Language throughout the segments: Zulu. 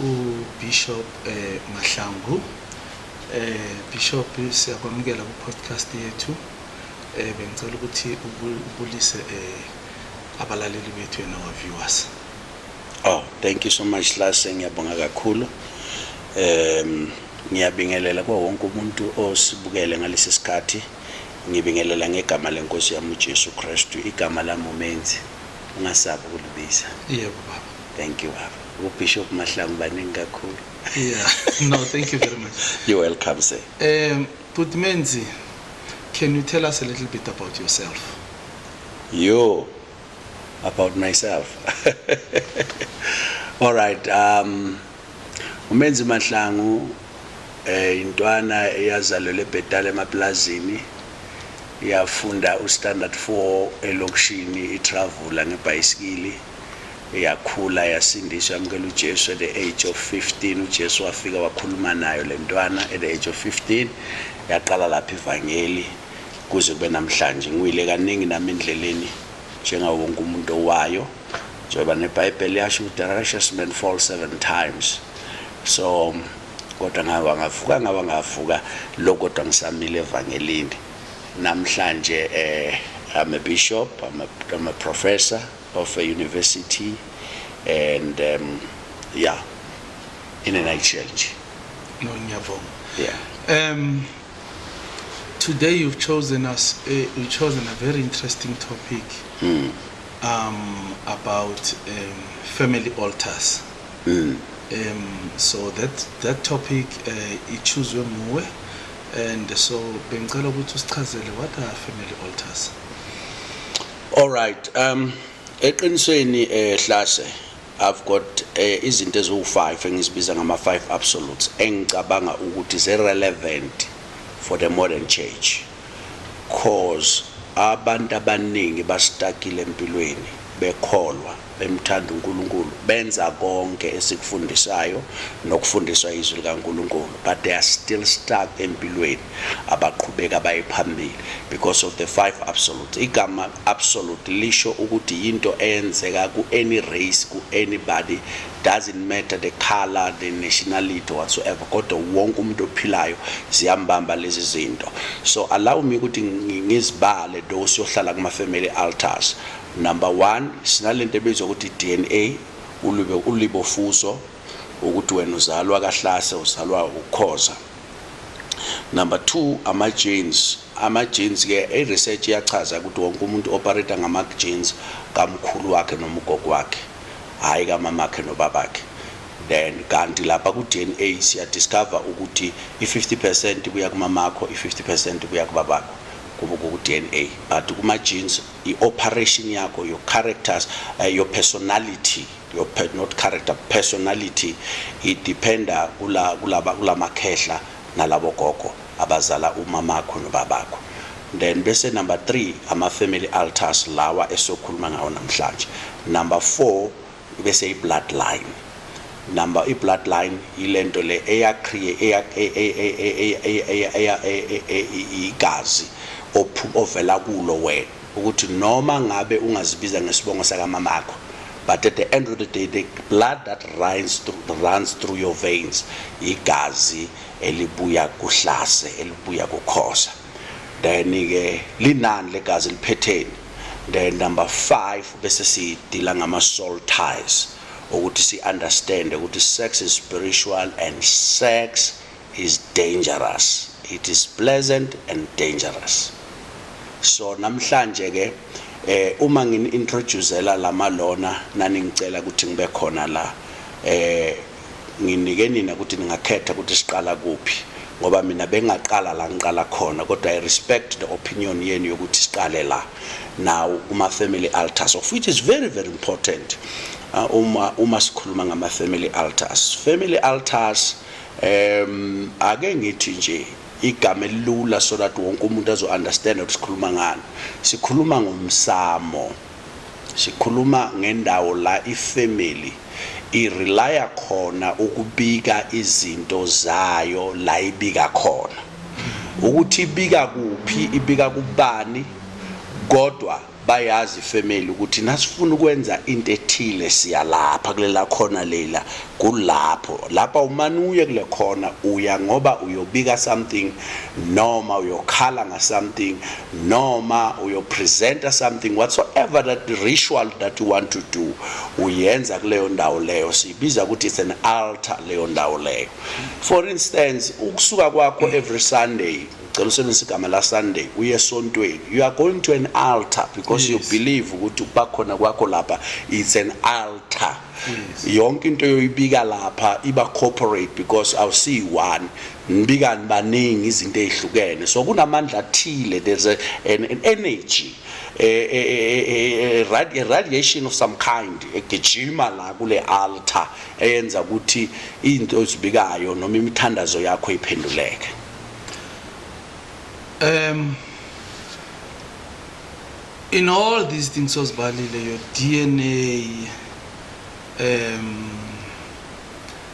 uBishop eh, Mahlangu eh, Bishop siyakwamukela ku-podcast yethu eh, bengicela ukuthi ubulise eh, abalaleli bethu yena wa-viewers oh thank you so much lase ngiyabonga kakhulu um ngiyabingelela kwa wonke umuntu osibukele ngalesi sikhathi ngibingelela ngegama lenkosi yami uJesu Kristu igama lami umenzi ungasabi ukulibiza yebo baba thank you baba UBishop Mahlangu baningi kakhulu. Yeah. No, thank you very much. You're welcome, sir. Um, Bhuti Menzi, can you tell us a little bit about yourself? Yo, about myself. All right. Um, uMenzi Mahlangu eh intwana eyazalelwe ebhetala emaplazini yafunda uStandard 4 elokishini iTravula ngebhayisikili Yakhula yasindiswa yamukela uJesu at the age of 15 uJesu wafika wakhuluma nayo lentwana at the age of 15 yaqala lapha ivangeli kuze kube namhlanje ngiyile kaningi nami endleleni njengawo wonke umuntu owayo njengoba nebhayibheli yasho ukuthi the righteous man fall seven times so kodwa ngawa ngavuka ngawa ngavuka lo kodwa ngisamile evangelini namhlanje eh I'm a bishop I'm a, I'm a professor of a university and um, yeah in a nutshell nje no ngiyavuma yeah um today you've chosen us uh, you've chosen a very interesting topic mm. um about um, family altars mm. um so that that topic uh, ichuzwe muwe and so bengicela ukuthi usichazele what are family altars All right. Um eqinisweni eh Hlase I've got eh, izinto eziwu5 engizibiza ngama 5 absolutes engicabanga ukuthi ze relevant for the modern church. Cause abantu abaningi bastakile empilweni bekholwa bemthanda uNkulunkulu benza konke esikufundisayo nokufundiswa izwi likaNkulunkulu but they are still stuck empilweni abaqhubeka baye phambili because of the five absolutes igama absolute lisho ukuthi yinto eyenzeka ku any race ku anybody doesn't matter the color the nationality whatsoever kodwa wonke umuntu ophilayo ziyambamba lezi zinto so allow me ukuthi ngizibale those yohlala kuma family altars Number one sinalento ebizwa ukuthi DNA ulube ulibofuzo ukuthi wena uzalwa kahlase uzalwa ukukhoza number 2 ama genes ama genes ke i research iyachaza ukuthi wonke umuntu operator ngama genes kamkhulu wakhe noma ugogo wakhe hayi kamama wakhe nobabakhe then kanti lapha ku DNA siya discover ukuthi i 50% kuya kumamakho i 50% kuya kubabakho kubuku DNA but kuma genes I operation yakho, your characters, uh, your personality, your pe not character, personality it dependa kula kulaba kulamakhehla nalabo gogo abazala umamakho nobabakho. Then bese number 3 ama family altars lawa esokhuluma ngawo namhlanje. Number 4 bese i-bloodline number i-bloodline yilento le eyacreate igazi ovela kulo wena ukuthi noma ngabe ungazibiza ngesibongo sakamama akho but at the end of the day the blood that runs through, runs through your veins igazi elibuya kuhlase elibuya kukhosa then ke linani legazi liphetheni then number 5 bese sidila ngama soul ties ukuthi si understand ukuthi sex is spiritual and sex is dangerous it is pleasant and dangerous so namhlanje ke eh uma ngini introducela lama lona nani ngicela ukuthi ngibe khona la eh Nginike nina ukuthi ningakhetha ukuthi siqala kuphi ngoba mina bengaqala la ngiqala khona kodwa I respect the opinion yenu yokuthi siqale la now uma family altars of which is very very important uh, uma uma sikhuluma ngama family altars family altars um ake ngithi nje igama elilula so that wonke umuntu azo understand ukuthi sikhuluma ngani sikhuluma ngomsamo Sikhuluma ngendawo la ifamily i relaya khona ukubika izinto zayo la ibika khona. Ukuthi ibika kuphi ibika kubani kodwa bayazi ifamily ukuthi nasifuna ukwenza into ethile siya lapha kulela khona lela kulapho lapha umane uye kule khona uya ngoba uyobika something noma uyokhala nga something noma uyopresenta something whatsoever that ritual that you want to do uyenza kuleyo ndawo leyo siyibiza ukuthi it's an altar leyo ndawo leyo for instance ukusuka kwakho every sunday ngicela usebenzisa igama la sunday uye esontweni you are going to an altar because yes. you believe ukuthi ukuba khona kwakho lapha it's an altar yes. yonke into yoyibika lapha iba corporate because awusiyi one Mbikani baningi izinto ezihlukene so kunamandla athile there's a, an, an energy a, a, a, a, a radiation of some kind egijima la kule altar eyenza ukuthi izinto ezibikayo noma imithandazo yakho iphenduleke um in all these things ozibalile your DNA um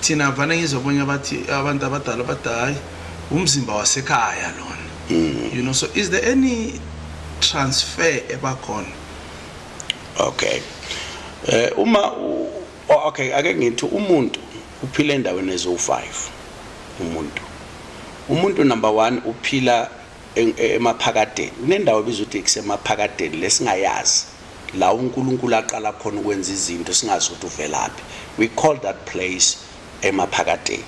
thina vane ngizwa abanye abathi abantu abadala bathi hayi umzimba wasekhaya lona mm. you know so is there any transfer ebakhona okay eh uma okay ake ngithi umuntu uphila endaweni ezo-five umuntu umuntu number one uphila emaphakadeni kunendawo ebizwa ukuthi kusemaphakadeni lesingayazi La uNkulunkulu aqala khona ukwenza izinto singazi ukuthi uvelaphi. We call that place emaphakadeni.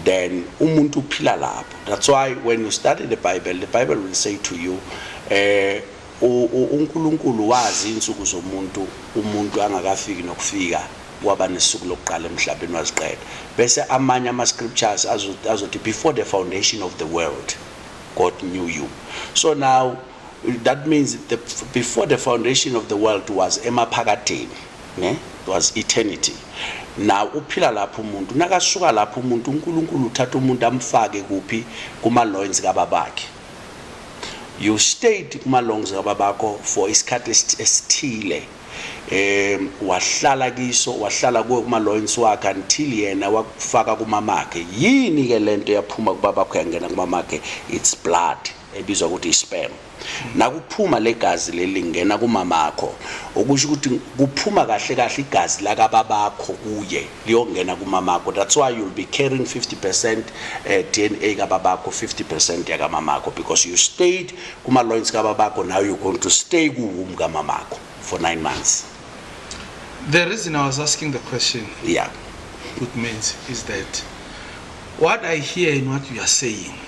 Then umuntu uphila lapho. That's why when you study the Bible, the Bible will say to you, eh uNkulunkulu wazi insuku zomuntu umuntu angakafiki nokufika waba nesuku lokuqala emhlabeni waziqeda bese amanye ama scriptures azothi before the foundation of the world God knew you so now that means the, before the foundation of the world was emaphakadeni ne was eternity now uphila lapho umuntu nakasuka lapho umuntu uNkulunkulu uthatha umuntu amfake kuphi kuma loins kababakhe you stayed kuma loins kababakho for isikhathi esithile um wahlala kiso wahlala kuwe kuma loins wakhe until yena wakufaka kumamakhe yini ke lento yaphuma kubabakho yangena kumamakhe it's blood ebizwa ukuthi i-sperm nakuphuma legazi leli lingena kumamakho okusho ukuthi kuphuma kahle kahle igazi lakababakho kuye liyongena kumamakho that's why you'll be carrying 50% eh, DNA kababakho 50% yakamamakho because you stayed kuma loins kababakho now you're going to stay ku womb kamamakho for 9 months the reason i was asking the question yeah good means is that what i hear in what you are saying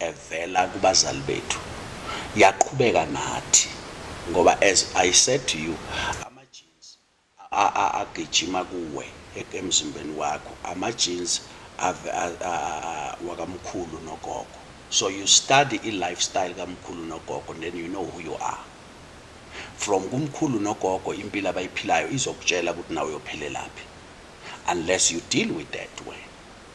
evela kubazali bethu yaqhubeka nathi ngoba as I said to you ama genes agijima kuwe emzimbeni wakho ama genes wakamkhulu nogogo so you study i lifestyle kamkhulu nogogo then you know who you are from kumkhulu nogogo impilo abayiphilayo izokutshela ukuthi nawe uyophelelaphi unless you deal with that way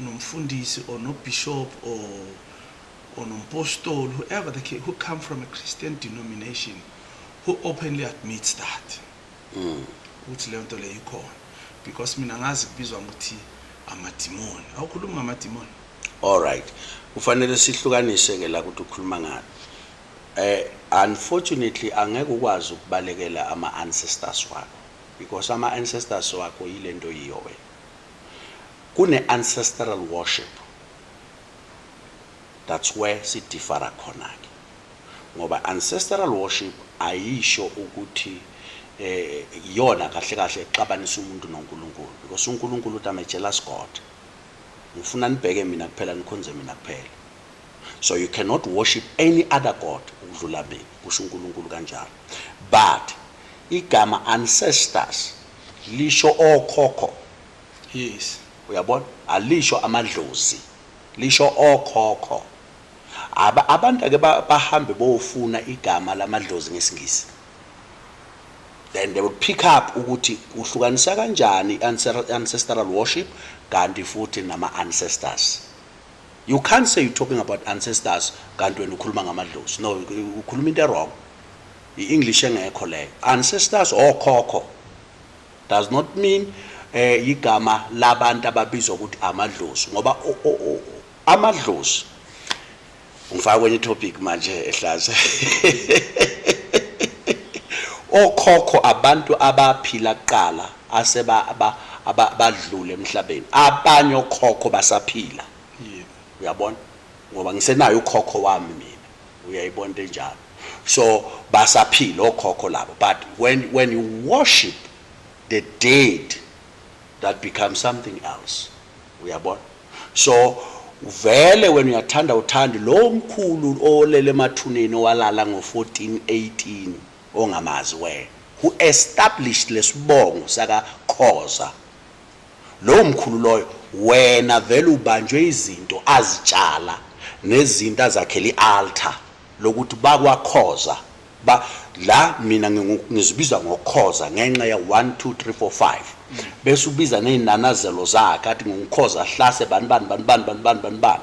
nomfundisi or no bishop or or nompostoli whoever the case who come from a Christian denomination who openly admits that mm. ukuthi leyo nto leyo ikhona because mina ngazi kubizwa ngokuthi amadimoni awukhulumi ngamadimoni all right kufanele sihlukanise ke la ukuthi ukhuluma ngani eh unfortunately angeke ukwazi ukubalekela ama ancestors wakho because ama ancestors wakho yilento yiyo wena Kune ancestral worship that's where si differa khona ke ngoba ancestral worship ayisho ukuthi eh iyona kahle kahle exabanisa umuntu noNkulunkulu because uNkulunkulu uthi I'm a jealous God ngifuna nibheke mina kuphela nikhonze mina kuphela so you cannot worship any other god ukudlula mina kusho uNkulunkulu kanjalo but igama ancestors lisho okhokho Yes. Uyabona? Alisho amadlozi. Lisho okhokho. Aba abantu ake ba- bahambe bofuna igama lamadlozi ngesingisi. Then they will pick up ukuthi kuhlukanisa kanjani i-ancer- ancestral worship kanti futhi nama ancestors. You can't say you're talking about ancestors kanti wena ukhuluma ngamadlozi. No, u- ukhuluma into wrong. I-English engekho leyo. Ancestors okhokho. does not mean eh igama labantu ababizwa ukuthi amadlozi ngoba amadlozi ngifaka kwenye topic manje ehlaza okhokho abantu abaphila kuqala aseba abadlule emhlabeni abanye okhokho basaphila uyabona ngoba ngisenayo ukhokho wami mina uyayibona into enjalo so basaphila okhokho labo but when, when you worship the dead that becomes something else uyabona so vele wena uyathanda uthandi lo mkhulu olele emathuneni owalala ngo-1418 ongamazi wena who established lesibongo sakakhoza Lowo mkhulu loyo wena vele ubanjwe izinto azitshala nezinto azakhela ialtar lokuthi bakwa Khoza ba la mina ngizibiza ngokhoza ngenxa ya 1 2 3 4 5 bese ubiza nezinanazelo zakhe athi ngukhoza hlase bani bani bani bani bani bani bani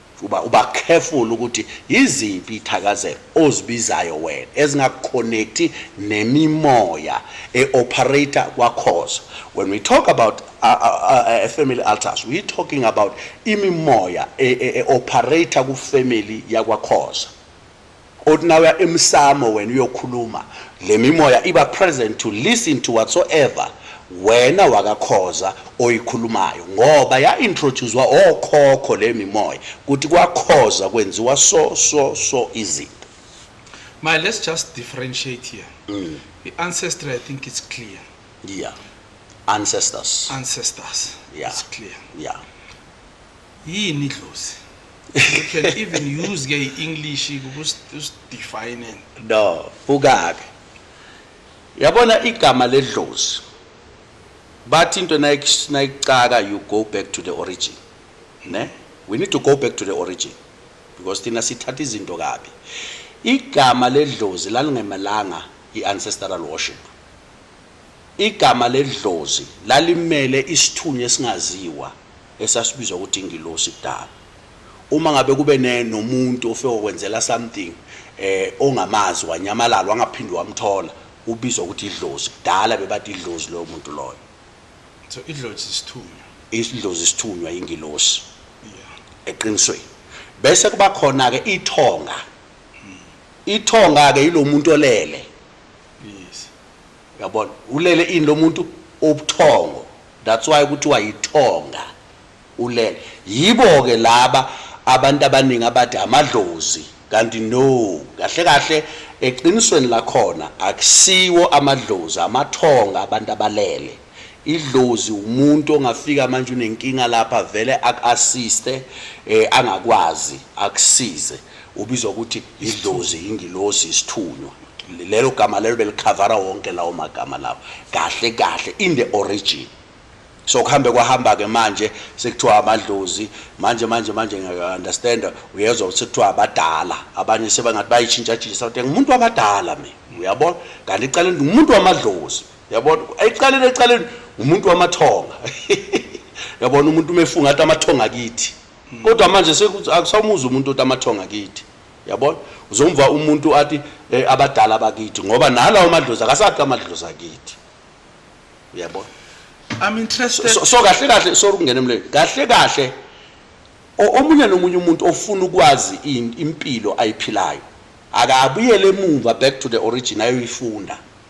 Uba uba careful ukuthi yiziphi ithakazelo ozibizayo wena ezingaku connect nemimoya e operator kwakhoza. When we talk about a, a, a, a family altars we talking about imimoya e, e, e operator ku family yakwakhoza. Uthi nawuya emsamo wena uyokhuluma lemimoya iba present to listen to whatsoever wena wakaKhoza oyikhulumayo ngoba ya introducewa okhokho lemimoya kuthi kwaKhoza kwenziwa so so so izinto. My let's just differentiate here. Mm. The ancestry I think it's clear. Yeah. Ancestors. Ancestors. Yeah. It's clear. Yeah. yini idlozi you can even use ke i-english ukusidefine no buka-ke yabona igama ledlozi bathi into nayikucaka you go back to the origin ne we need to go back to the origin because thina sithatha izinto kabi igama ledlozi lalingemelanga i-ancestral worship igama ledlozi lalimele isithunywa esingaziwa esasibizwa ukuthi ingilosi kudala uma ngabe kube ne nomuntu ofike okwenzela something eh ongamazi wanyamalala wangaphindi wamthola ubizwa ukuthi idlozi kudala bebathi idlozi loyo muntu loyo so idlozi isithunywa idlozi isithunywa ingilosi yeah eqinisweni bese kuba khona ke ithonga hmm. ithonga ke yilomuntu olele yes Yabona ulele ini lomuntu ubuthongo that's why kuthiwa yithonga ulele yibo ke laba abantu abaningi abathi amadlozi kanti no kahle kahle eqinisweni lakhona akusiwo amadlozi amathonga abantu abalele idlozi umuntu ongafika manje unenkinga lapha vele aku-assiste um angakwazi akusize Ubizwa ukuthi idlozi, ingilosi, isithunywa. Lelo gama lelo belikhavara wonke lawo magama lawo kahle kahle in the origin. So kuhambe kwahamba ke manje sekuthiwa amadlozi manje manje manje ngeke understand uyezwa ukuthi kuthiwa abadala abanye sebangathi bayichinja chinja sathi ngumuntu wabadala mina uyabona kanti iqale ngumuntu wamadlozi yabona eqaleni eqaleni umuntu wamathonga yabona umuntu umefunga athi amathonga kithi mm. kodwa manje sekuthi akusamuzwa umuntu othi amathonga kithi yabona uzomva umuntu athi eh, abadala bakithi ngoba nalawo madlozi akasathi amadlozi akithi uyabona i'm interested so, so kahle kahle sorry ukungena emlweni kahle kahle omunye nomunye umuntu ofuna ukwazi impilo ayiphilayo akabuyele emuva back to the origin ayoyifunda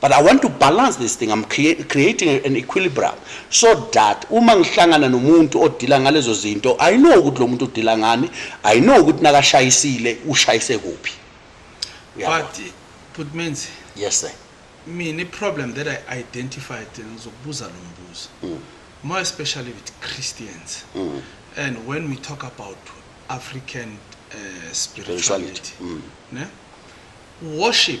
but I want to balance this thing I'm creating an equilibrium so that uma ngihlangana nomuntu odila ngalezo zinto I know ukuthi lo muntu udila ngani I know ukuthi nakashayisile ushayise kuphi but put means yes sir mina problem that I identified ngizokubuza lo mbuzo mm. more especially with Christians mm. and when we talk about African uh, spirituality, spirituality. Mm. Ne? worship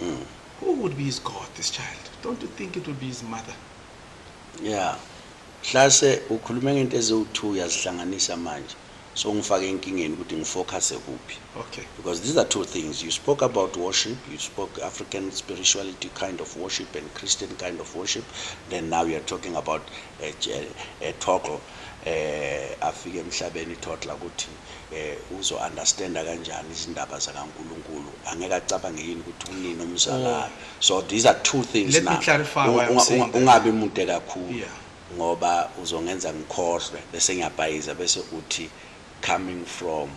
Mm. Who would be his God, this child? Don't you think it would be his mother? Yeah. Hlase ukhuluma ngento eziwu-2 yazihlanganisa manje. So ngifake enkingeni ukuthi ngifocuse kuphi. Okay. Because these are two things. You spoke about worship, you spoke African spirituality kind of worship and Christian kind of worship. Then now you're talking about a, a, a total eh afike emhlabeni total ukuthi Eh uzo understanda kanjani izindaba zakaNkulunkulu angeke acabange yini ukuthi unini omzalayo oh. so these are two things Let now me clarify why I'm saying that. ungabi mude kakhulu yeah. ngoba uzongenza ngikhohlwe bese ngiyabhayiza bese uthi coming from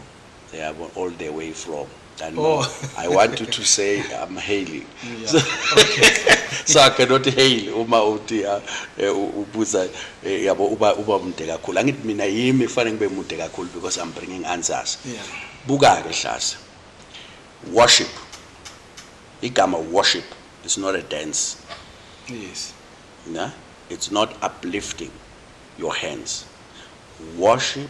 yabo all the way from than oh. more. I want you to say I'm hailing. Yeah. So, okay. so I cannot hail uma uthi ah, eh, ubuza eh, yabo uba uba mude kakhulu. Angithi mina yimi kufanele ngibe mude kakhulu because I'm bringing answers. Yeah. Buka ke hlasa. Worship. Igama worship is not a dance. Yes. Na? It's not uplifting your hands. Worship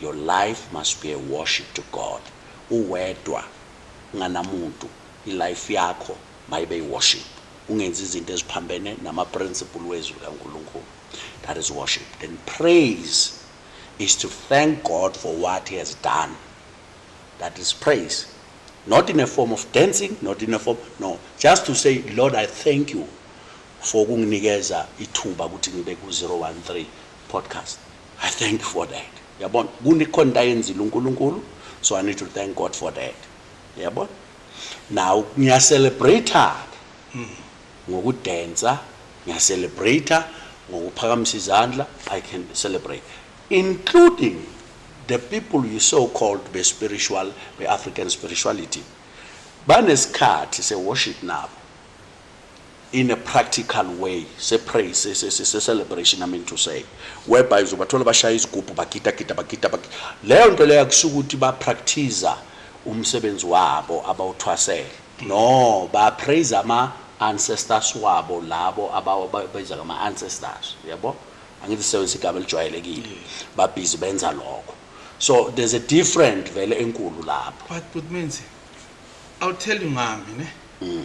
Your life must be a worship to God uwedwa unganamuntu i life yakho mayibe i worship ungenzi izinto eziphambene nama principle wezwi likaNkulunkulu that is worship then praise is to thank God for what he has done that is praise not in a form of dancing not in a form no just to say Lord I thank you for ukunginikeza ithuba ukuthi ngibe ku 013 podcast i thank for that yabona kunekhona into ayenzile unkulunkulu so i need to thank god for that yabona now ngiyacelebrate hmm. ngokudensa ngiyacelebrate ngokuphakamisa izandla i can celebrate including the people you so called be spiritual be african spirituality banesikhathi se worship nabo in a practical way se praise se se se celebration i mean to say whereby uzobathola bashaya izigubhu bagida gida bagida bagida leyo nto leyo kusho ukuthi ba practice umsebenzi wabo abawuthwasele no ba praise ama ancestors wabo labo ababayiza ngama ancestors yabo angithi sisebenzisa igama elijwayelekile babhizi benza lokho so there's a different vele enkulu lapho but but means i'll tell you ngami ne mm.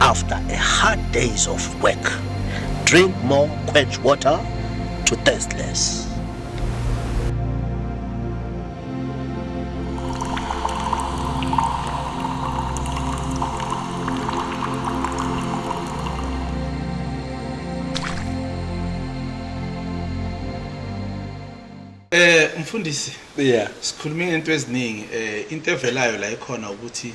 after a hard days of work. Drink more quench water to thirst less. Eh mfundisi yeah sikhuluma into eziningi eh into evelayo la ikhona ukuthi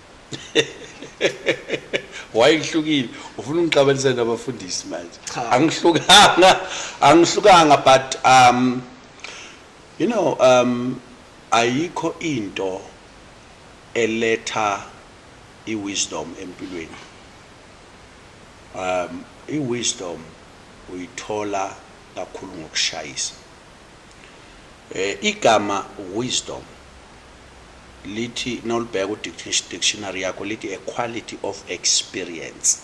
why ngihlukile ufuna ungixabanisa nabafundisi manje angihlukanga angihlukanga but um you know um ayikho into eletha iwisdom empilweni um iwisdom uyithola kakhulu ngokushayisa eh igama wisdom lithi nolibheka udictionary yakho lithi a quality of experience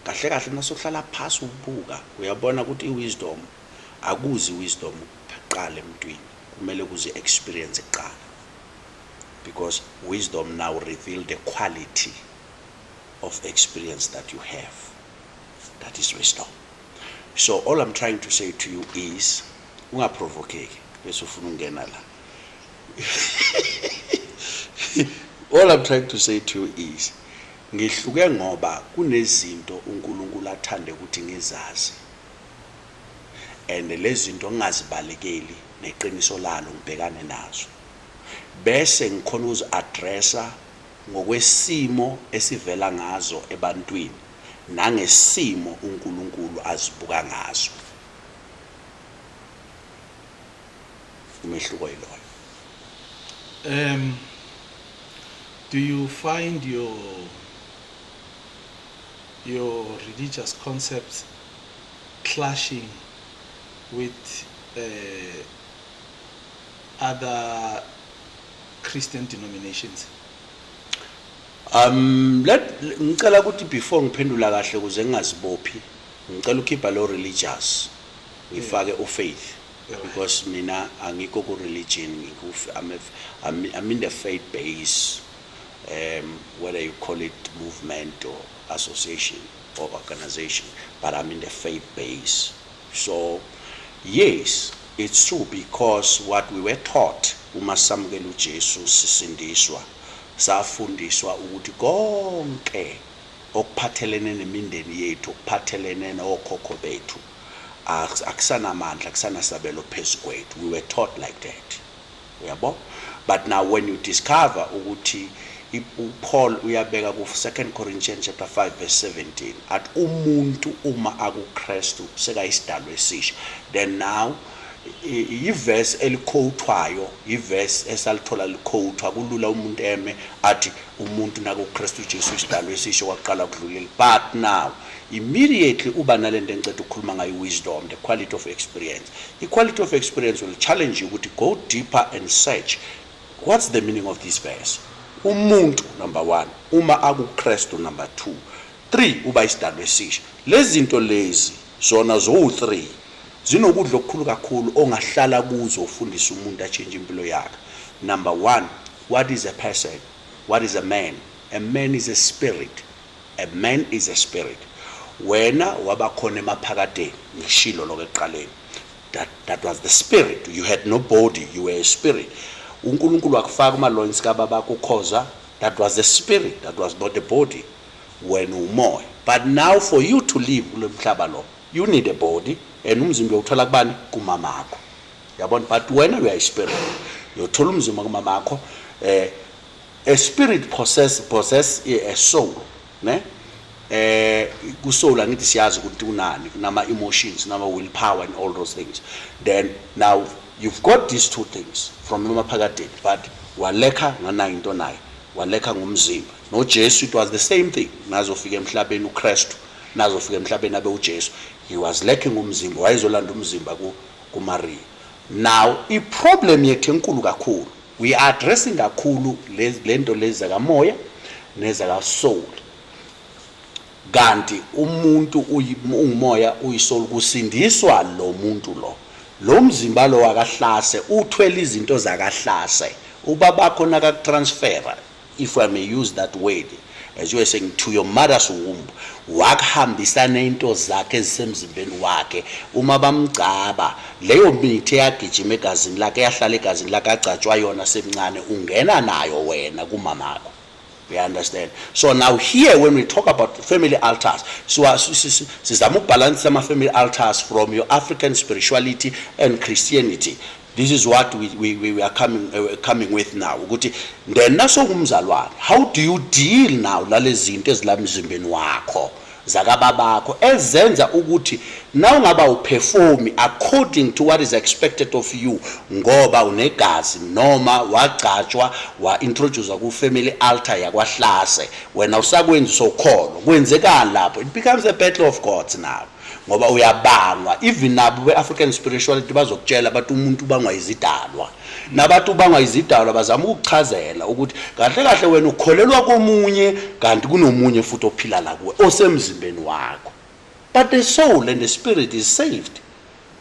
kahle kahle masuhlala phasi ubuka uyabona ukuthi iwisdom akuzi wisdom kuqala emntwini kumele kuze experience kuqala because wisdom now reveal the quality of experience that you have that is wisdom so all i'm trying to say to you is ungaprovokeki bese ufuna ukungena la All I'm trying to say to you is ngihluke ngoba kunezinto uNkulunkulu athande ukuthi ngizazi and lezinto ngingazibalekeli neqiniso lalo ngibhekane nazo bese ngikhona ukuzi addressa ngokwesimo esivela ngazo ebantwini nangesimo uNkulunkulu azibuka ngaso umehluko yiloyo um do you find your your religious concepts clashing with uh, other Christian denominations? Um let ngicela ukuthi before ngiphendula kahle kuze ngingazibophi ngicela ukhipha lo religious ngifake ufaith because mina angikho ku religion ngiku I'm, I'm, I'm in the faith base um, whether you call it movement or association or organization but I'm in the faith base so yes it's true because what we were taught uma samukela uJesu sisindiswa safundiswa ukuthi konke okuphathelene nemindeni yethu okuphathelene nokhokho bethu akusanamandla kusanasabelo phezu kwethu we were taught like that uyabo but now when you discover ukuthi uPaul uyabeka ku 2 Corinthians chapter 5 verse 17 at umuntu uma akuKristu sekayisidalo esisha then now yiverse elikhowuthwayo yiverse esalithola likhowuthwa kulula umuntu eme athi umuntu nakuKristu Jesu isidalo esisha kwaqala ukudlulile but now Immediately uba nalento engiceda ukukhuluma ngayo wisdom, the quality of experience. I quality of experience will challenge you ukuthi go deeper and search what's the meaning of this verse. Umuntu number 1, uma akuKristu number 2, 3 uba isidalwa esisha. Lezinto lezi zona zo 3 zinokudla okukhulu kakhulu ongahlala kuzo ufundisa umuntu atshintshe impilo yakhe. Number 1, what is a person? What is a man? A man is a spirit. A man is a spirit. Wena wabakhona emaphakadeni ngishilo lokho ekuqaleni. That that was the spirit. You had no body, you were a spirit. UNkulunkulu wakufaka kuma loins ka baba kukhoza. That was a spirit, that was not a body. Wena umoya. But now for you to live kulomhlaba lo, you need a body and umzimba uthola kubani? Kumama wakho. Yabona but wena you are a spirit. Yothola umzimba kumama wakho eh A spirit possess possess a soul ne eh ku soul angithi siyazi ukuthi kunani kunama emotions nama will power and all those things then now you've got these two things from emaphakadeni but walekha nganayo into naye walekha ngomzimba noJesu it was the same thing nazofika emhlabeni uKristu nazofika emhlabeni abe uJesu he was lacking umzimba wayezolanda umzimba ku kuMaria now iproblem yethu enkulu kakhulu We are addressing kakhulu lento lezi zakamoya nezakasoul kanti umuntu ungumoya uyisoul kusindiswa lo muntu lo lo mzimba lo wakahlase uthwele izinto zakahlase ubabakho nakakutransfera if I may use that word as you were saying to your mother's womb wakuhambisa nento zakhe ezisemzimbeni wakhe uma bamgcaba leyo mithi eyagijima egazini lakhe yahlala egazini lakhe agcatshwa yona semncane ungena nayo wena kumamakho we understand so now here when we talk about family altars so sizama ukubhalansisa ama-family altars from your african spirituality and christianity This is what we, we, we are coming, uh, coming with now ukuthi then nasongumzalwane how do you deal now lalezinto ezilamzimbeni wakho zakababakho ezenza ukuthi nawungaba uperform according to what is expected of you ngoba unegazi noma wagcatshwa wa-introduce ku-family altar yakwahlase wena usakwenza sokholwa kwenzekani lapho it becomes a battle of gods now ngoba uyabangwa even nabo be-african spirituality bazokutshela bathi umuntu ubangwa izidalwa nabathi ubangwa izidalwa bazama ukukuchazela ukuthi kahle kahle wena ukholelwa komunye kanti kunomunye futhi ophila la kuwe osemzimbeni wakho but the soul and the spirit is saved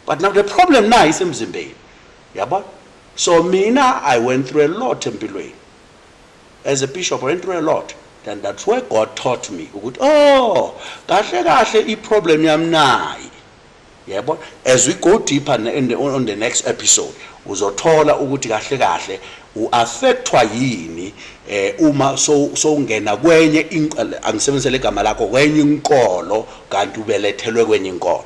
but now the problem nayo isemzimbeni yabona so mina i went through a lot empilweni As a bishop I went through a lot and that's where God taught me ukuthi oh kahle kahle i problem yami nayi yebo as we go deeper in the, on the next episode uzothola ukuthi kahle kahle uaffectwa yini eh uma so sowungena kwenye inqele angisebenzise legama lakho kwenye inkolo kanti ubelethelwe kwenye inkolo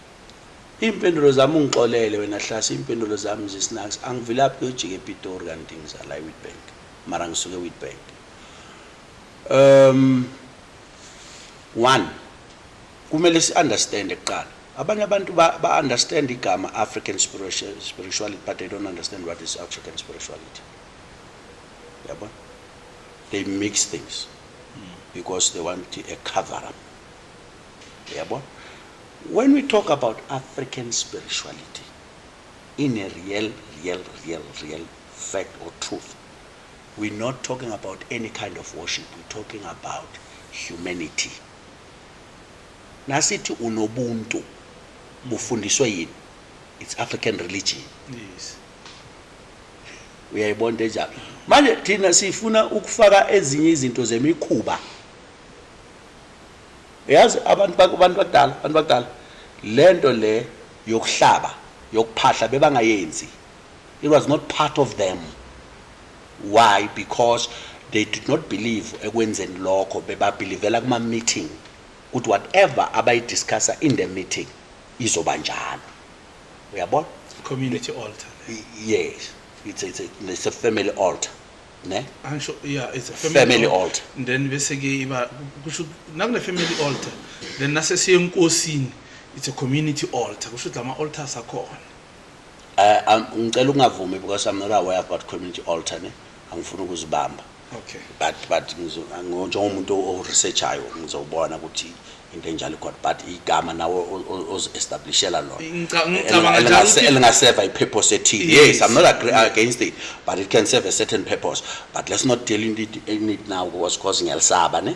Impendulo zami ungixolele wena Hlasi impendulo zami zisnax angivilaphi kuyojika ePitori kanti ngizala eWitbank mara ngisuke eWitbank um one kumele si understand kuqala abanye abantu ba, ba understand igama African spirituality but they don't understand what is African spirituality yabo they mix things because they want a cover up Yabo? When we talk about African spirituality, in a real, real, real, real fact or truth, we're not talking about any kind of worship, we're talking about humanity. Nasithi unobuntu bufundiswe yini? It's African religion. Yes. uyayibona into enjalo manje thina sifuna ukufaka ezinye izinto zemikhuba Yazi abantu abantu badala abantu badala lento le yokuhlaba yokuphahla bebangayenzi it was not part of them why because they did not believe ekwenzeni lokho bebabhilivela kuma meeting ukuthi whatever abayidiscussa in the meeting izoba njalo uyabona community altar yes it's, it's, it's a family altar ne angisho yeah it's a family, family altar then bese ke iba kusho nakune family altar then nase siye enkosini it's a community altar kusho ukuthi lama altars akhona eh um, ngicela ukungavumi because i'm not aware about community altar ne angifuni ukuzibamba okay but but ngizo njengomuntu o researchayo ngizobona ukuthi into enjalo god but igama nawe ozi-establishela lonalingacabangaaelingaseva i-purpose ethile yes i'm not agree against it but it can serve a certain purpose but let's not deal in it, in it now was causing elsaba ne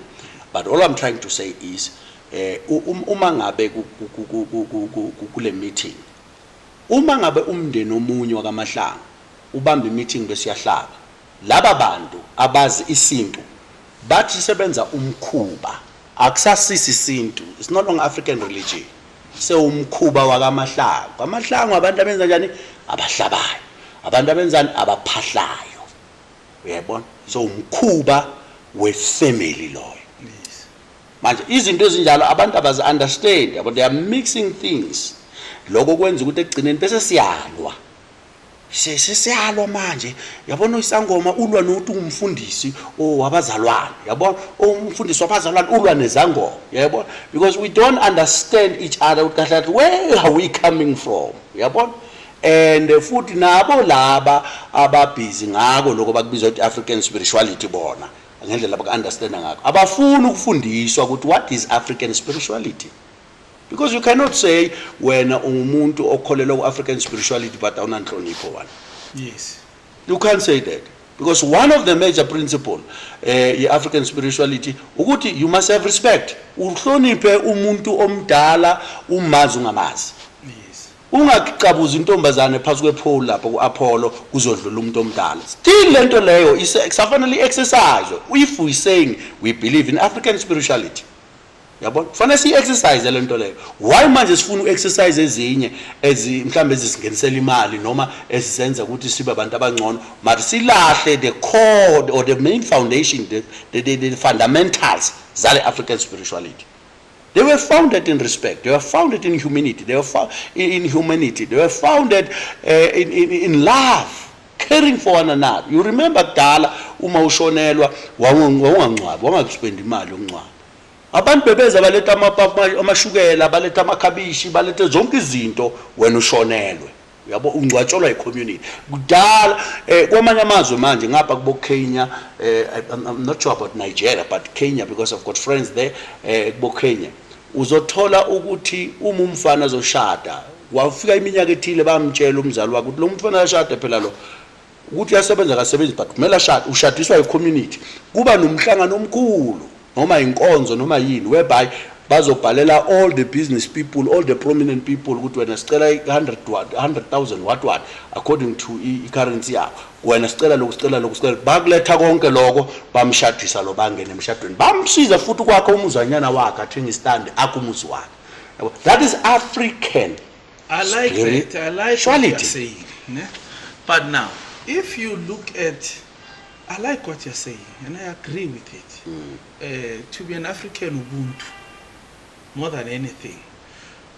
but all i'm trying to say is eh um, uma ngabe kule meeting uma ngabe umndeni omunye wakamahlanga ubamba i-meeting besiyahlaba Laba bantu abazi isintu bathi sebenza umkhuba. Akusasiso isintu, it's no longer African religion, sewumkhuba wakaMahlangu. KwaMahlangu abantu abenza njani? Abahlabayo. Abantu abenzani? Abaphahlayo. Uyayibona? So umkhuba wefamily loyo. Manje izinto ezinjalo abantu abazi understand, yabo they are mixing things. Lokho kwenza ukuthi ekugcineni bese siyalwa. Sisi siyalwa manje yabona isangoma ulwa nokuthi ungumfundisi owabazalwane yabona umfundisi wabazalwane ulwa nezangoma yabona because we don't understand each other ukuthi kahle kahle where are we coming from yabona and futhi nabo laba ababhizi ngako lokho bakubiza ukuthi African spirituality bona ngendlela abaku-understanda ngakho abafuni ukufundiswa ukuthi what is African spirituality because you cannot say wena ungumuntu okholelwa ku-african spirituality but awunanhlonipho wani yes you can't say that because one of the major principle eh ye-african spirituality ukuthi you must have respect uhloniphe umuntu omdala umazi ungamazi yes ungacabuza intombazane phansi kwephole lapho ku-apollo kuzodlula umuntu omdala still le nto leyo kusafanele i-exercise if we saying we believe in african spirituality yabona kufanele siyi-exercise le nto leyo why manje sifuna u-exercise ezinye mhlawumbe ezisingenisela imali noma esizenza ukuthi sibe abantu abangcono but silahle the core or the main foundation the, the, the, the fundamentals zale african spirituality They were founded in respect. They were founded in humility. They were founded in humanity. They were founded uh, in, in, in love. caring for one another you remember kudala uma ushonelwa wawungangcwabi wangakuspendi imali yokungcwaba abantu bebeza baletha amashukela baletha amakhabishi balethe zonke izinto wena ushonelwe uyabo ungcwatshelwa icommunity kudala eh, kwamanye amazwe manje ngapha kubo Kenya eh, I'm, I'm not sure about Nigeria but Kenya because I've got friends there eh, kubo Kenya Uzothola ukuthi uma umfana zoshada wafika iminyaka ethile bamtshela umzali wakhe ukuthi lo mfana ashade phela lo ukuthi uyasebenza akasebenzi but kumele ashade ushadiswa yi-community kuba nomhlangano omkhulu noma inkonzo noma yini whereby bazobhalela all the business people all the prominent people ukuthi wena sicela 100 100,000 what what according to i-currency yakho wena sicela lokhu sicela lokhu sicela bakuletha konke lokho bamshadisa lo bangene emshadweni bamsiza futhi ukwakhe umuzanyana wakhe athenga istand akho umuzi wakhe yabo that is african i like Spirit. that i like Quality. what you're saying ne? but now if you look at i like what you're saying and i agree with it mm. uh, to be an african ubuntu more than anything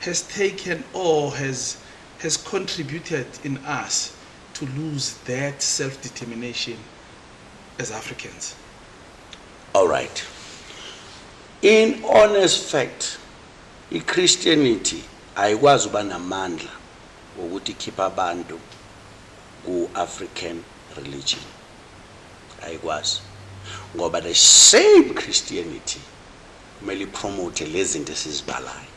has taken or has has contributed in us to lose that self determination as Africans all right in honest fact i Christianity ayikwazi uba namandla ukuthi ikhipha abantu ku African religion ayikwazi ngoba the same Christianity kumele ipromote lezi zinto esizibalayo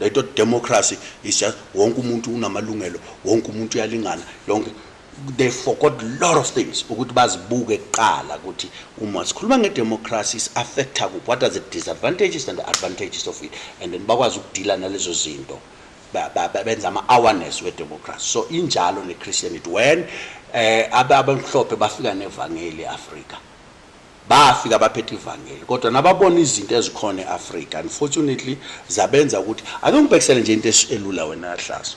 Lento democracy is just wonke umuntu unamalungelo, wonke umuntu uyalingana, yonke they forgot lot of things ukuthi bazibuke kuqala ukuthi uma sikhuluma ngedemocracy is affecta kuphi what are the disadvantages and the advantages of it and then bakwazi ukudila nalezo zinto benza ama-awareness wedemocracy so injalo ne-christianity when um eh, abamhlophe bafika nevangeli e-afrika Bafika abaphethe ivangeli kodwa nababona izinto ezikhona e-Afrika unfortunately zabenza ukuthi ake ngibhekisele nje into elula wena yahlazo.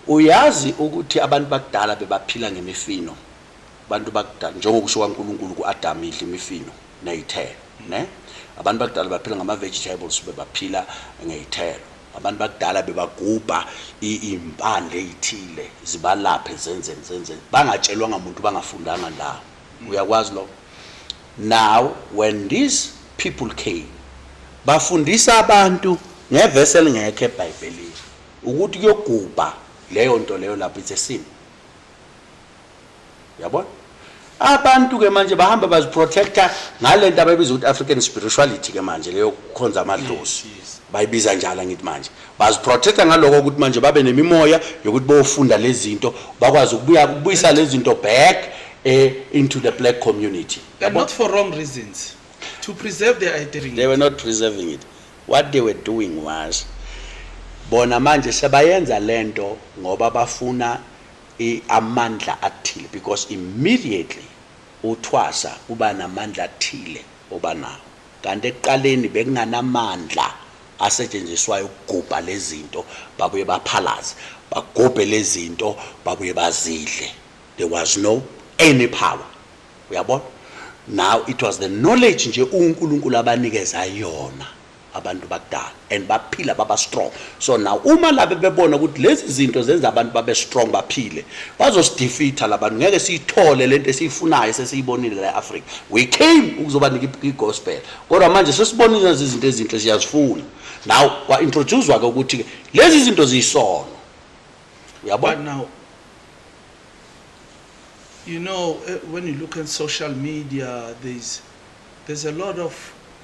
Uyazi ukuthi abantu bakudala bebaphila ngemifino. Abantu bakudala njengokusho kwaNkulunkulu kuAdam idla imifino nezithelo, ne? Abantu bakudala baphila ngama vegetables bebaphila ngezithelo. Abantu bakudala bebagubha impande ezithile zibalaphe zenzeni zenzeni bangatshelwanga muntu bangafundanga ndawo. uyakwazi lokho now when these people came bafundisa abantu ngevesi elingekho ebhayibhelini ukuthi kuyogubha leyo nto leyo lapho it's a sin yabona abantu ke manje bahamba baziprotecta ngale nto abayibiza ukuthi african spirituality ke manje leyo kukhonza amadlozi bayibiza njalo angithi manje baziprotecta ngaloko ukuthi manje babe nemimoya yokuthi bofunda lezinto bakwazi ukubuya kubuyisa lezinto back eh, into the black community But not for wrong reasons. To preserve their identity. they were not preserving it what they were doing was bona manje sebayenza lento ngoba bafuna i- amandla athile because immediately uthwasa kuba namandla athile obanawo Kanti ekuqaleni bekunganamandla asetshenziswayo ukugubha lezinto babuye baphalaze bagubhe lezinto babuye bazidle there was no any power uyabona now it was the knowledge nje uNkulunkulu abanikeza yona abantu bakudala. and baphila baba strong so now uma labe bebona ukuthi lezi zinto zenza abantu babe strong baphile bazosidefeater labantu ngeke siyithole lento esiyifunayo sesiyibonile la eAfrica we came ukuzobanika igospel kodwa manje sesibona lezi zinto ezinhle siyazifuna now kwa introducewa ke ukuthi lezi zinto ziyisono uyabona now you know eh, when you look at social media there's there's a lot of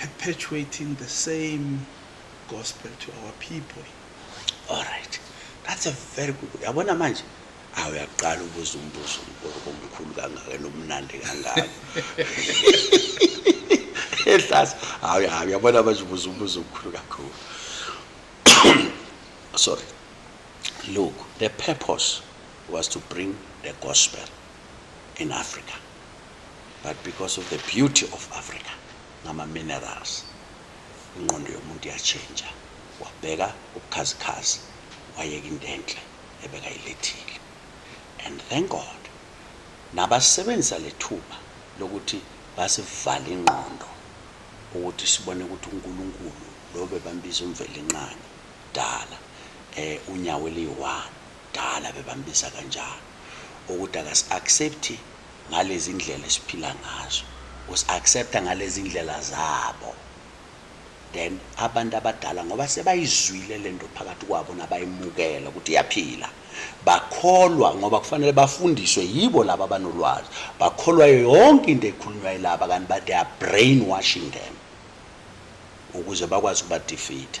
perpetuating the same gospel to our people all right that's a very good yabona manje awu yaqala ubuza umbuzo omkhulu kangaka nomnandi kangaka ehlasa hawu hawu yabona manje ubuza umbuzo omkhulu kakhulu sorry look the purpose was to bring the gospel in africa but because of the beauty of Africa ngama minerals ingqondo yomuntu yatshentsha wabheka ubukhazikhazi wayeka into enhle ebekayilethile and thank God nabasebenzisa lethuba lokuthi basivale ingqondo ukuthi sibone ukuthi uNkulunkulu lo bebambiza umvelinqangi dala eh unyawo eliyi-1 Kudala bebambiza kanjalo ukuthi akasi accept ngalezi ndlela esiphila ngazo. Usi accepta ngalezi ndlela zabo. Then abantu abadala ngoba sebayizwile lento phakathi kwabo nabayimukela ukuthi iyaphila. Bakholwa ngoba kufanele bafundiswe yibo laba abanolwazi. Bakholwa yonke into ekhulunywa yilaba kanti ba they are brainwashing them ukuze bakwazi ukuba defeat.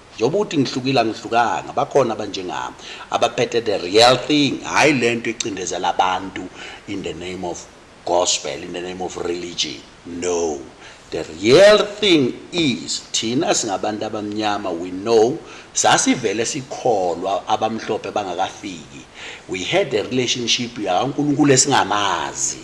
Njengoba uthi ngihlukile angihlukanga bakhona abanjengami abaphethe the real thing hhayi lento ecindezela abantu in the name of gospel in the name of religion no the real thing is thina singabantu abamnyama we know sasivele sikholwa abamhlophe bangakafiki we had a relationship yakaNkulunkulu esingamazi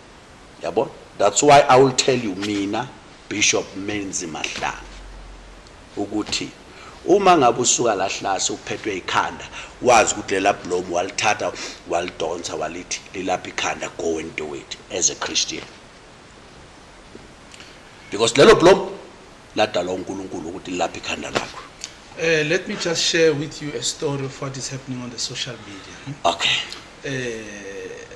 yabo that's why i will tell you mina bishop menzi mahlanga ukuthi uma ngabe usuka lahlase uphethwe ikhanda wazi ukuthi lela blomu walithatha walidonsa walithi lilapha ikhanda go and do it as a christian because lelo blomu ladalwa unkulunkulu ukuthi lilapha ikhanda lakho Uh, let me just share with you a story of what is happening on the social media. Hmm? Okay. Uh,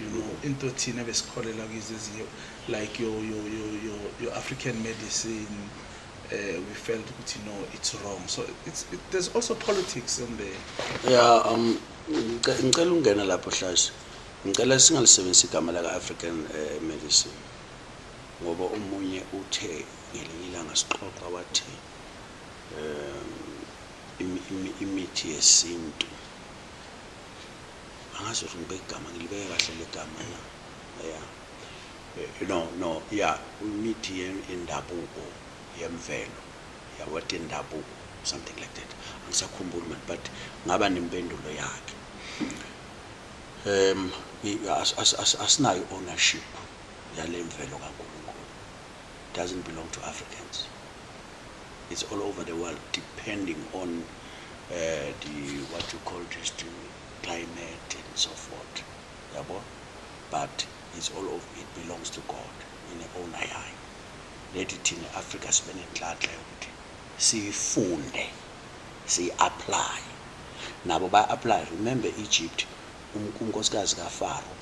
you know into thina besikholela kizo ezinye like your your your your, your African medicine uh, we felt ukuthi no it's wrong so it's it, there's also politics in there yeah um ngicela ungena lapho hlashi ngicela singalisebenzisa igama laka African uh, medicine ngoba omunye uthe ngelinye ilanga sixoxa wathi um imithi yesintu angazi ukuthi ngibeka igama ngilibeke kahle legama na ya eh, no no ya imithi yendabuko yemvelo ya what indabuko something like that angisakhumbuli manje but ngaba nempendulo yakhe um asinayo ownership yale mvelo kaNkulunkulu doesn't belong to Africans It's all over the world depending on uh, the what you call this the climate and so forth. Yabo? But it's all over it belongs to God in the own eye. Lethi thina Africa sibe nenhlanhla yokuthi siyifunde, siyi-apply. Nabo ba-apply. Remember Egypt, um, unkosikazi kaFaro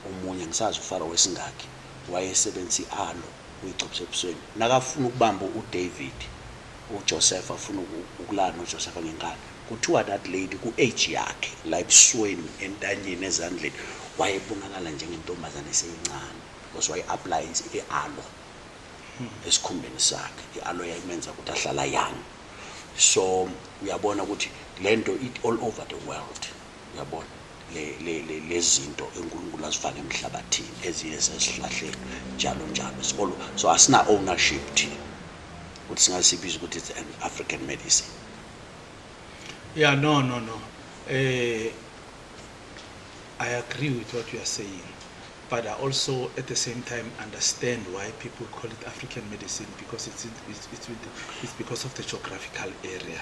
omunye ngisazi uFaro wesingaki wayesebenzisa i-aloe uyicopse ebusweni. Nakafuna ukubamba uDavid, uJoseph afuna ukulala noJoseph ngenkani. Kuthiwa that lady ku-age yakhe la ebusweni, entanyeni, ezandleni wayebonakala njengentombazane eseyincane because waye-appliance i-alo esikhumbeni sakhe. I-alo yayimenza ukuthi ahlala young. So uyabona ukuthi le nto it all over the world. yabona lezinto uNkulunkulu azifake emhlabathini eziye sesihlahleni njalo njalo sibolo so asina ownership thina ukuthi singasibiza ukuthi it's an African medicine yeah no no no eh I agree with what you are saying but I also at the same time understand why people call it African medicine because it's it's it's, it's because of the geographical area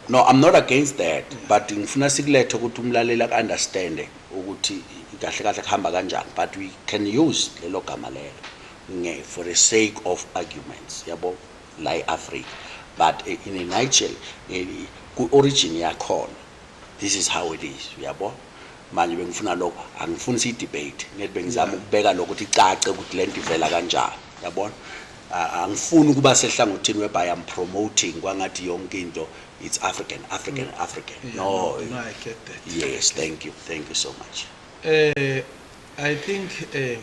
No I'm not against that but ngifuna sikulethe ukuthi umlaleli ak understand ukuthi kahle kahle kuhamba kanjani but we can use lelo gama lelo nge for the sake of arguments yabo la eAfrica but eh, in a nutshell eh, ku origin yakhona this is how it is yabo manje bengifuna lokho angifuni siyidebate ngithi bengizama ukubeka lokho ukuthi icace ukuthi le nto ivela kanjani yabona angifuni ukuba sehlangothini whereby I'm promoting kwangathi yonke into it's African African mm. African yeah, no, no I get that yes thank you thank you so much eh uh, I think eh uh,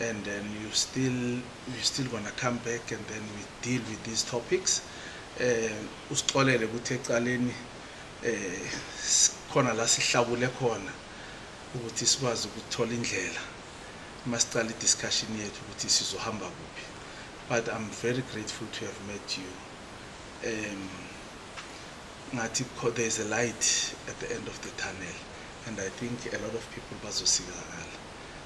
and then you still you still gonna come back and then we deal with these topics eh usixolele ukuthi ecaleni eh khona la sihlakule khona ukuthi sikwazi ukuthola indlela masiqala i-discussion yethu ukuthi sizohamba kuphi but i'm very grateful to have met you um ngathi there is a light at the end of the tunnel and i think a lot of people bazosizakala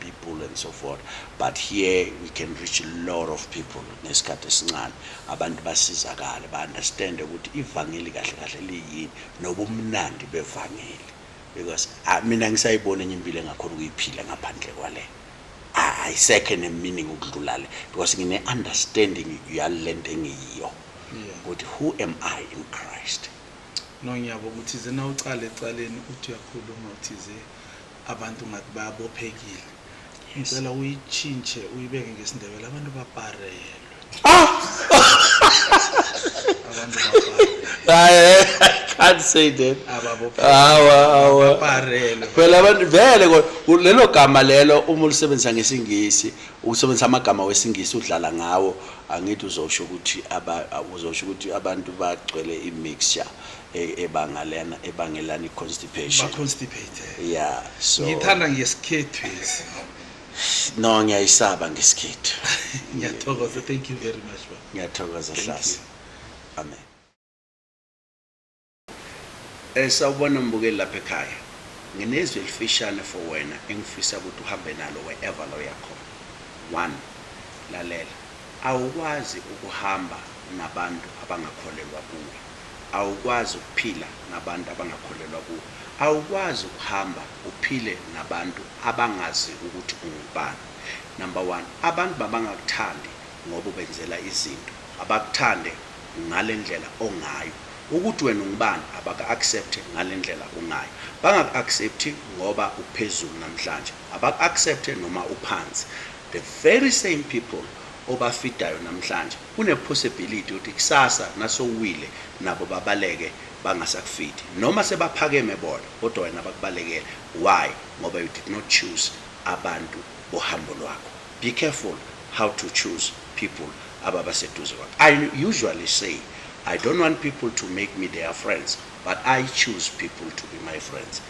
people and so forth but here we can reach a lot of people ngesikhathi esincane abantu basizakale ba-understande ukuthi ivangeli kahle kahle liyini nobumnandi bevangeli because ah, mina ngisayibona enye impilo engakhona ukuyiphila ngaphandle kwale ayisekho ah, enemining ukudlula le because ngine-understanding yale nto engiyiyo ukuthi who am i in christ no ngiyabo ukuthi zina ucale ecaleni uthi uyakhuluma uthize Abantu ngathi bayabophekile. Ngicela uyitshintshe uyibeke ngesindebele abantu baparelwe. Ah! Abantu baparelwe. Hayi, can't say that. Ababophekile. Hawa, hawa. Baparelwe. Phela abantu vele ko- ku- lelo gama lelo uma ulisebenzisa ngesingisi, usebenzisa amagama wesingisi udlala ngawo, angithi uzosho ukuthi aba uzosho ukuthi abantu bagcwele imixture. e- ebangalena ebangelana i-constipation ba-constipated yeah so ngiyithanda ngesikhethwesi no ngiyayisaba ngesikhethu ngiyathokoza thank you very much baba ngiyathokoza Thank hlasa amen Eh sawubona mbukeli lapha ekhaya. Nginezwi elifishane for wena engifisa ukuthi uhambe nalo wherever lo yakhona. One, lalela. Awukwazi ukuhamba nabantu abangakholelwa kuwe. Awukwazi ukuphila nabantu abangakholelwa kuwe. Awukwazi ukuhamba uphile nabantu abangazi ukuthi ungubani. Number one, abantu mabangakuthandi ngoba ubenzela izinto, abakuthande ngalendlela ongayo. Ukuthi wena ungubani abaku accept ngalendlela ungayo. Bangaku accept ngoba uphezulu namhlanje, abaku accept noma uphansi. The very same people obafidayo namhlanje, Kune possibility ukuthi kusasa nasowuwile nabo babaleke bangasakufiti noma sebaphakeme bona kodwa wena bakubalekele why ngoba you did not choose abantu bohambo lwakho be careful how to choose people ababa seduze kwakho i usually say i don't want people to make me their friends but i choose people to be my friends